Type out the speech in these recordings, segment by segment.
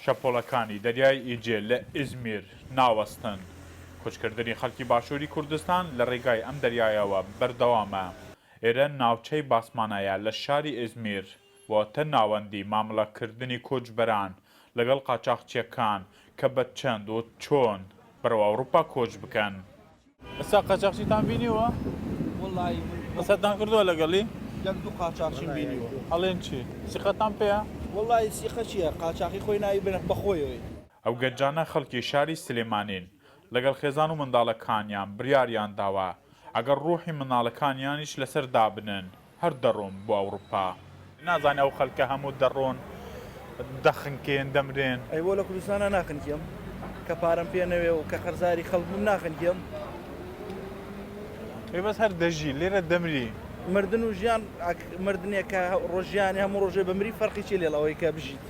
شەپۆڵەکانی دەریای ئیجێ لە ئیزمیر ناوەستن، کوچکردنی خەڵکی باشووری کوردستان لە ڕێگای ئەم دەریایەوە بەردەوامە، ئێرە ناوچەی باسمانایە لە شاری ئیزمیر، واتە ناوەندی مامڵەکردنی کۆچبەران لەگەڵ قاچاخچییەکان کە بە چەند و چۆن بەرەو ئەوروپا کۆچ بکەن. ئێستا قاچاخچیتان بینیوە؟ وەڵایی قسەتان کردووە لەگەڵی؟ یەک دوو قاچاخچیم بینیوە. ئەڵێن چی؟ سیقەتان پێیە؟ وەڵایی سیقە چییە؟ قاچاخی خۆی ناوی بە بەخۆیەوەی. ئەو گەنجانە خەڵکی شاری سلێمانین، لەگەڵ خێزان و منداڵەکانیان بڕیاریان داوە ئەگەر ڕووحی منداڵەکانیانیش لەسەر دابنێن، هەر دەڕۆن بۆ ئەوڕوپا. نازانێ ئەو خەلکە هەموو دەڕۆن دەخنکێن دەمرێن. ئەی بۆ لە کوردستانا ناخنکێم کە پارەم پێ نەوێ و کە قەرزاری خەلک بم ناخنکێم. ئەی بەس هەر دەژی لێرە دەمری. مردن و ژیان ئەک مردنێ کە ڕۆژیانێ هەموو ڕۆژێ بمری فەرقی چیە لێڵ ئەوەی کە بژیت.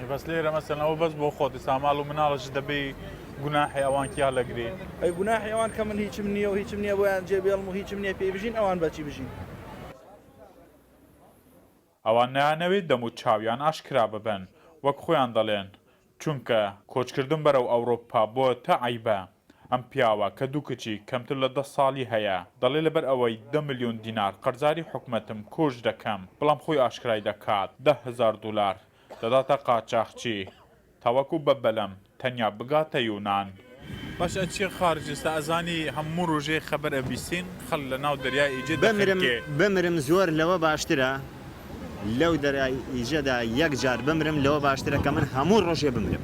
بەس لێرە مەسەن ئەوە بەس بۆ خۆتی ساماڵ و مناڵش دەبی گوناحی ئەوان کیا لەگری ئەی گوناحی ئەوان کە من هیچم نییە و هیچم نییە بۆیان جێ بێڵم و هیچم نییە پێی بژین ئەوان بەچی بژین ئەوان نایانەوێت دەم و چاویان ئاشکرا ببن وەک خۆیان دەڵێن چونکە کۆچکردن بەرەو ئەوڕۆپا بۆتە عەیبە ئەم پیاوە کە دوو کچی کەمتر لە دە ساڵی هەیە دەڵێت لەبەر ئەوەی دە ملیۆن دینار قەرزاری حکومەتم کۆچ دەکەم بەڵام خۆی ئاشکرای دەکات دە هەزار دولار دەداتە قاچاخچی تاوەکو بە بەلەم تەنیا بگاتە یونان. باش ئەچیە خارج ئێستا ئەزانی هەموو روژێ خەبەر ئەبیسین خەل لە ناو دەریای ئیجە دەخنکێ. بمرم زۆر لەوە باشترە لەو دەریای ئیجەدا یەک جار بمرم لەوە باشترە کە من هەموو رۆژێ بمرم.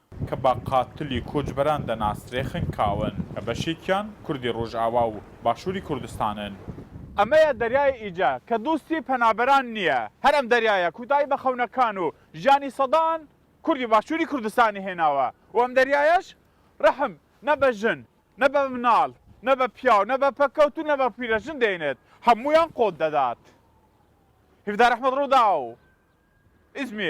کە بە قاتلی کۆچبەران دەناسرێ خنکاون، کە بەشێکیان کوردی ڕۆژئاوا و باشووری کوردستانن. ئەمەیە دەریای ئیجە، کە دۆستی پەنابەران نییە، هەر ئەم دەریایە کوتایی بە خەونەکان و ژیانی سەدان کوردی باشووری کوردستانی هێناوە و ئەم دەریایەش ڕەحم نە بە ژن، نە بە مناڵ، نە بە پیاو، نە بە پەککەوت و نە بە پیرەژن دێنێت، هەموویان قۆت دەدات. هیڤدار ئەحمەد ڕووداو، ئیزمیر.